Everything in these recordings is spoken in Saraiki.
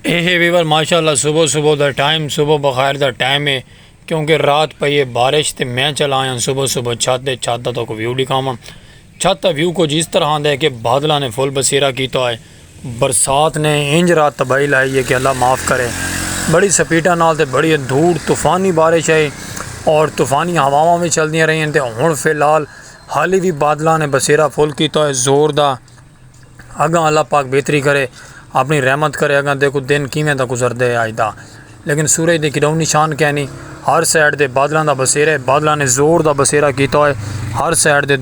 ایہے ویور ماشاءاللہ صبح صبح دا ٹائم صبح بخیر دا ٹائم ہے کیونکہ رات پئی ہے بارش تے میں چلا آیا صبح صبح چھت تے چھت دا تو کو ویو دکھاواں چھت دا ویو کچھ اس طرح دا ہے کہ بادلاں نے فل بسیرا کیتا ہے برسات نے انج رات تباہی لائی ہے کہ اللہ معاف کرے بڑی سپیٹاں نال تے بڑی دھوڑ طوفانی بارش ہے اور طوفانی ہواواں وی چلدیاں رہیاں تے ہن فی الحال حالی وی بادلاں نے بسیرا فل کیتا ہے زور دا اگاں اللہ پاک بہتری کرے اپنی رحمت کرے اگاں دیکھو دن کیویں دا گزردے آج دا لیکن سورج دے کڈاؤں نشان کیا نہیں ہر سائیڈ دے بادلاں دا بسیرہ ہے بادلاں نے زور دا بسیرہ کیتا ہوئے ہر سائیڈ دے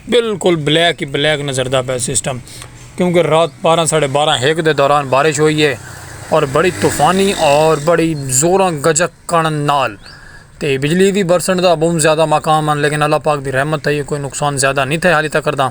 بالکل بلیک ہی بلیک نظر دا پہ سسٹم کیونکہ رات بارہ ساڑھے بارہ ہیک دے دوران بارش ہوئی ہے اور بڑی طوفانی اور بڑی زوراں گجک کن نال تے بجلی بھی برسن دا بہت زیادہ مقام ہیں لیکن اللہ پاک دی رحمت تھئی ہے کوئی نقصان زیادہ نہیں تھے حالی تک کرداں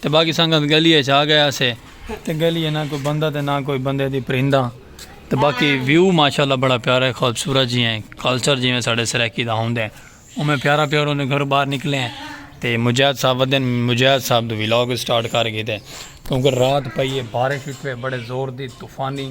تے باقی سنگت گلی اچ آ گئے اسے تے گلی اچ نہ کوئی بندہ تے نہ کوئی بندے دی پرندہ تے باقی ویو ماشاءاللہ بڑا پیارا ہے خوبصورت جیاں ہے کلچر جیویں ساڈے سرائیکی دا ہوندے اوویں پیارا پیار ہوندے گھروں باہر نکلے ہیں تے مجاہد صاحب ودن مجاہد صاحب دو ولاگ سٹارٹ کر گھیتے کیونکہ رات پئی ہے بارش اٹھوے بڑے زور دی طوفانی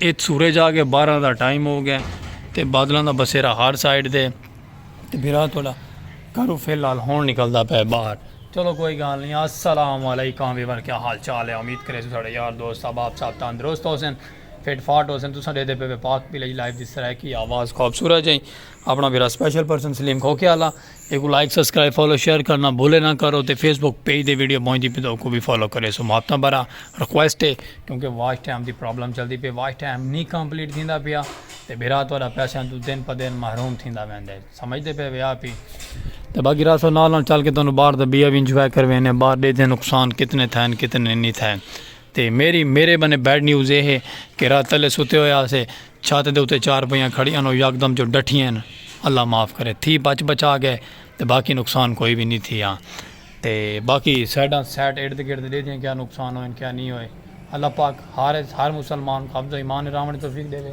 اچ سورج آ گئے بارہ دا ٹائم ہو گئے تے بادلاں دا بسیرا ہر سائیڈ دے تے بھرا توڑا کرو فی الحال ہون نکل دا پے باہر چلو کوئی گال نہیں السلام علیکم ویور کیا حال چال ہے امید کرے سو ساڑے یار دوست احباب صاحب تندرست ہو سن فٹ فاٹ ہو سن تساں دے دے پے پاک پلج لائف دی سرائے کی آواز خواب سورج ہیں اپنا بھرا سپیشل پرسن سلیم کھوکے آلا ایکوں لائک سبسکرائب فالو شیئر کرنا بھولے نہ کرو تے فیس بک پیج دے ویڈیو پہنچ دی پہ تو کو بھی فالو کرے سو ماپتا برا ریکویسٹ ہے کیونکہ واچ ٹائم دی پرابلم چلدی پہ واچ ٹائم نہیں کمپلیٹ تھیندا پیا تے بھرا تہاڈا پیسے تو دن پہ دن محروم تھیندا ویندا ہے سمجھ دے پے ویا پی تے باقی راسو نال نال چل کے تانوں باہر دا بیا بھی انجوائے کروینے باہر دے دے نقصان کتنے تھے کتنے نہیں تھے تے میری میرے بنے بیڈ نیوز یہ ہے کہ رات تلے ستے ہوئے آسے چھت دے اتے چار پہیاں کھڑی انوں یکدم جو ڈٹھیئن اللہ معاف کرے تھی بچ بچا گئے تے باقی نقصان کوئی وی نی تھیا تے باقی سائیڈاں سائیڈ ارد گرد ڈیدھیاں کیا نقصان ہوئن کیا نی ہوئے اللہ پاک ہر ہر مسلمان کو ابدو ایمان راونڑ توفیق ڈیوے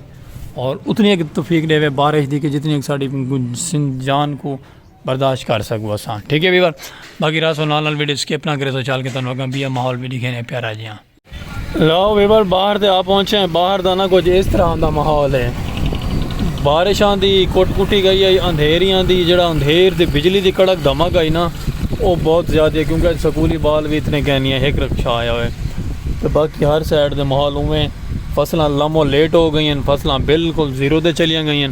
اور اتنی اک توفیق ڈیوے بارش دی کہ جتنی اک ساڈی جان کو برداشت کر سکو اساں ٹھیک ہے ویور باقی راسو نال نال ویڈیو سکپ نہ کرے سو چال کے تانوں اگاں بیا ماحول وی ڈکھینے پیارا جیاں لو ویور باہر تے آ پہنچے ہیں باہر دا نہ کچھ اس طرح دا ماحول ہے بارش آندی کٹ کٹی گئی ہے اندھیری آندی جڑا اندھیر دی بجلی دی کڑک دھمک آئی نا وہ بہت زیادہ ہے کیونکہ سکولی بال بھی اتنے کہنی ہیں ہک رکشہ آیا ہوئے تو باقی ہر سائڈ دے ماحول ہوئے فصلہ لمو لیٹ ہو گئی ہیں فصلہ بالکل زیرو دے چلیاں گئی ہیں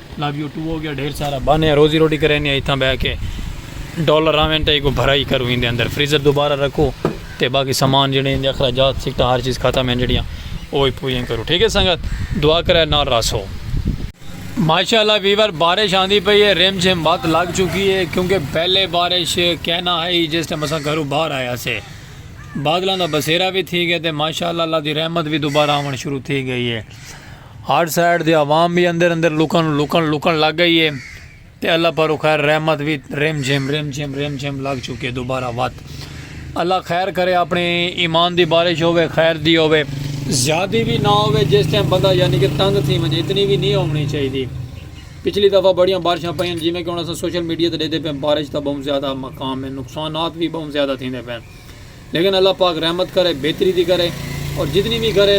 لو یو ٹو ہو گیا ڈھیر سارا بانیا روزی روٹی کرے نے ایتھاں بہ کے ڈالر آویں تے ایکو بھرائی کرو ایندے اندر فریزر دوبارہ رکھو تے باقی سامان جڑے ایندے اخراجات سکٹا ہر چیز ختم ہیں جڑیاں او ہی پوریاں کرو ٹھیک ہے سنگت دعا کرے نال راسو ماشاءاللہ ویور بارش آندی پئی ہے ریم جھم بات لگ چکی ہے کیونکہ پہلے بارش کہنا ہے جس ٹائم اساں گھروں باہر آیا سے بادلاں دا بسیرا بھی تھی گئے تے ماشاءاللہ اللہ دی رحمت بھی دوبارہ آون شروع تھی گئی ہے ہر سائیڈ دی عوام وی اندر اندر لکن لکن لکن لگ گئی ہے تے اللہ پر خیر رحمت وی رم جھم رم جھم رم جھم لگ چکے دوبارہ وت اللہ خیر کرے اپنے ایمان دی بارش ہوے خیر دی ہوے زیادی بھی نہ ہوے جس ٹائم بندہ یعنی کہ تنگ تھی ونجے اتنی بھی نہیں ہونی چاہیے پچھلی دفعہ بڑیاں بارشاں پہ جی میں کہ انہوں نے سوشل میڈیا تے دے دے پہ بارش دا بہت زیادہ مقام ہے نقصانات بھی بہت زیادہ تھی دے پہ لیکن اللہ پاک رحمت کرے بہتری دی کرے اور جتنی وی کرے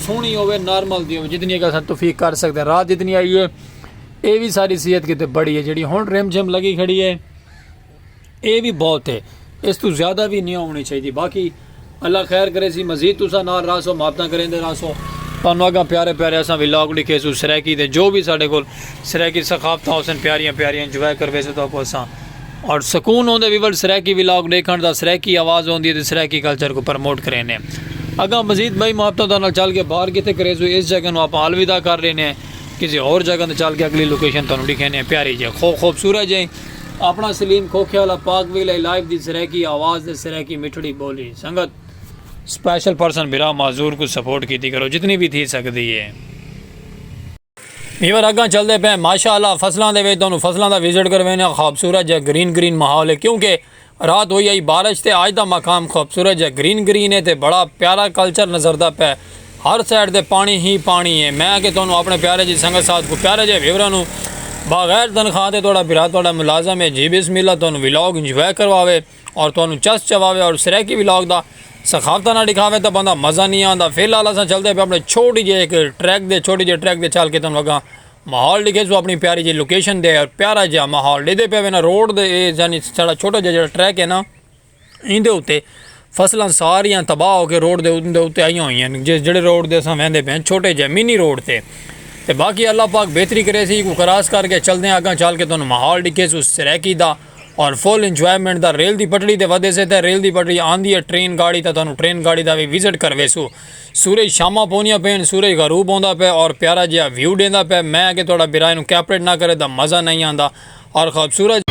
سونی ہووے نارمل دی ہووے جتنی اگر اساں توفیق کر سکدے رات جتنی آئی ہے اے وی ساڈی صحت کیتے بڑی ہے جیڑی ہن رم جھم لگی کھڑی ہے اے وی بہت ہے اس توں زیادہ وی نی ہونی چاہیدی باقی اللہ خیر کرے سی مزید تساں نال رہسو محبتاں کریندے رہسو تانوں اگاں پیارے پیارے اساں ولاگ ڈکھے سو سرائیکی دے جو وی ساڈے کول سرائیکی ثقافتاں ہوسن پیاریاں پیاریاں انجوائے کرویسو تہاکوں اساں اور سکون ہوندے وی ول سرائیکی ولاگ ڈیکھن دا سرائیکی آواز ہوندی ہے تے سرائیکی کلچر کوں پرموٹ کرینے اگاں مزید بئی محبتوں دا نال چل کے باہر کیتے کریزو اس جگہ نو آپاں الوداع کر ڈینے کسے ہور جگہ تے چل کے اگلی لوکیشن تانوں ڈکھینے پیاری جے خو خوبصورت جے اپنا سلیم کھوکھے والا پاک ویلہ لائیو دی سرائیکی آواز تے سرائیکی مٹھڑی بولی سنگت سپیشل پرسن بھرا معذور کوں سپورٹ کیتی کرو جتنی وی تھی سکدی ہے۔ ویور اگاں چلدے پئے ماشاء اللہ فصلاں دے وچ تانوں فصلاں دا وزٹ کرویندے ہاں خوبصورت جا گرین گرین ماحول ہے کیونکہ رات ہوئی آئی بارش تے آج دا مقام خوبصورت جا گرین گرین ہے تے بڑا پیارا کلچر نظردا پئے ہر سائیڈ تے پانی ہی پانی ہے میں اگے تانوں اپنے پیارے جی سنگت ساتھ کو پیارے جے ویوراں نوں بغیر تنخواہ تے تہاڈا بھرا تہاڈا ملازم ہے جی بسم اللہ تانوں ولاگ انجوائے کرواوے اور تہانوں چس چواوے اور سرائیکی ولاگ دا سخاوتاں نال ڈکھاوے تاں بندہ مزہ نی آندا فی الحال اساں چلدے پے اپنے چھوٹی جے ہک ٹریک دے چھوٹی جے ٹریک دے چل کے تہانوں اگاں ماحول ڈکھے سو اپنی پیاری جے لوکیشن دے اور پیارا جیا ماحول ڈیدے پے وینا روڈ دے اے یعنی ساڑا چھوٹا جے جڑا ٹریک ہے نا ایندے اتے فصلاں ساریاں تباہ ہو کے روڈ دے اتے آئیاں ہوئیاں جس جڑے روڈ دے اساں ویندے پے چھوٹے جے منی روڈ تے تے باقی اللہ پاک بہتری کرے سی کو کراس کر کے چلدے اگاں چل کے تہانوں ماحول ڈکھے سو سرائیکی دا اور فل انجوائمنٹ دا ریل دی پٹڑی تے ودے سے تاں ریل دی پٹڑی آندی ہے ٹرین گاڑی تاں تہانوں ٹرین گاڑی دا وی وزٹ کرویسوں سورج شاماں پوندیاں پئین سورج غروب ہوندا پئے اور پیارا جیہا ویو ڈیندا پئے میں اگے تہاڈا برا اینوں کیپریٹ نہ کرے تاں مزہ نئیں آندا اور خوبصورت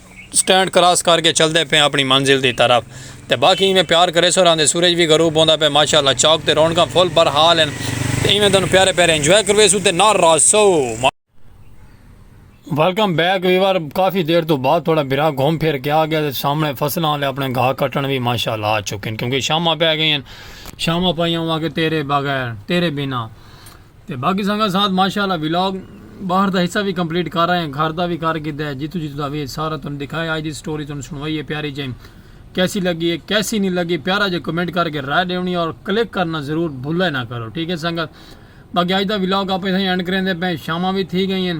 سٹینڈ کراس کر کے چلدے پئے آں اپݨی منزل دی طرف تے باقی ایویں پیار کریسو راہندے سورج وی غروب ہوندا پئے ماشاءاللہ چوک تے رونقاں فل بر حال ہن تے ایویں تہانوں پیارے پیارے انجوائے کرویسوں تے نال راہسو۔ ویلکم بیک ویور کافی دیر توں بعد تہاڈا بھرا گھم پھر کے آ گیا تے سامنے فصلاں آلے اپݨے گھاہ کٹݨ وی ماشاءاللہ آ چکے ہن کیونکہ شاماں پے گئیاں ہن شاماں پائیاں اواں کہ تیرے بغیر تیرے بنا تے باقی سانگا ساتھ ماشاء اللہ ولاگ باہر دا حصہ وی کمپلیٹ کر آئے ہیں گھر دا وی کر گھدا ہے جتھوں جتھوں دا وی سارا تانوں دکھایا اج دی سٹوری تانوں سنوائی ہے پیاری جائی کیسی لگی ہے کیسی نہیں لگی پیارا جے کمنٹ کر کے رائے دیونی اور کلک کرنا ضرور بھولا نہ کرو ٹھیک ہے سانگا باقی اج دا ولاگ آپ ایتھے اینڈ کریں دے پے شاماں وی تھی گئی ہیں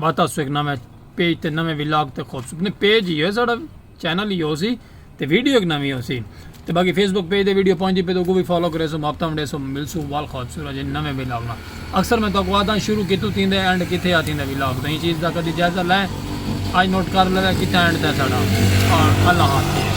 بات آسو ایک نویں پیج تے نویں ولاگ تے خوبصورت نہیں پیج ہی ہوئے ساڑا چینل ہی ہو سی تے ویڈیو ایک نویں ہو سی تے باقی فیس بک پیج تے ویڈیو پہنچی پہ تو کو بھی فالو کرے سو مابتا مڈے سو مل سو وال خوبصورت جی نویں ولاگ نا اکثر میں تو کو آدھا شروع کی تو تین دے اینڈ کتھے آتی دے ولاگ تو یہ چیز دا کدی جائزہ لائیں آج نوٹ کر لے کتھے اینڈ تے ساڑا اور اللہ حافظ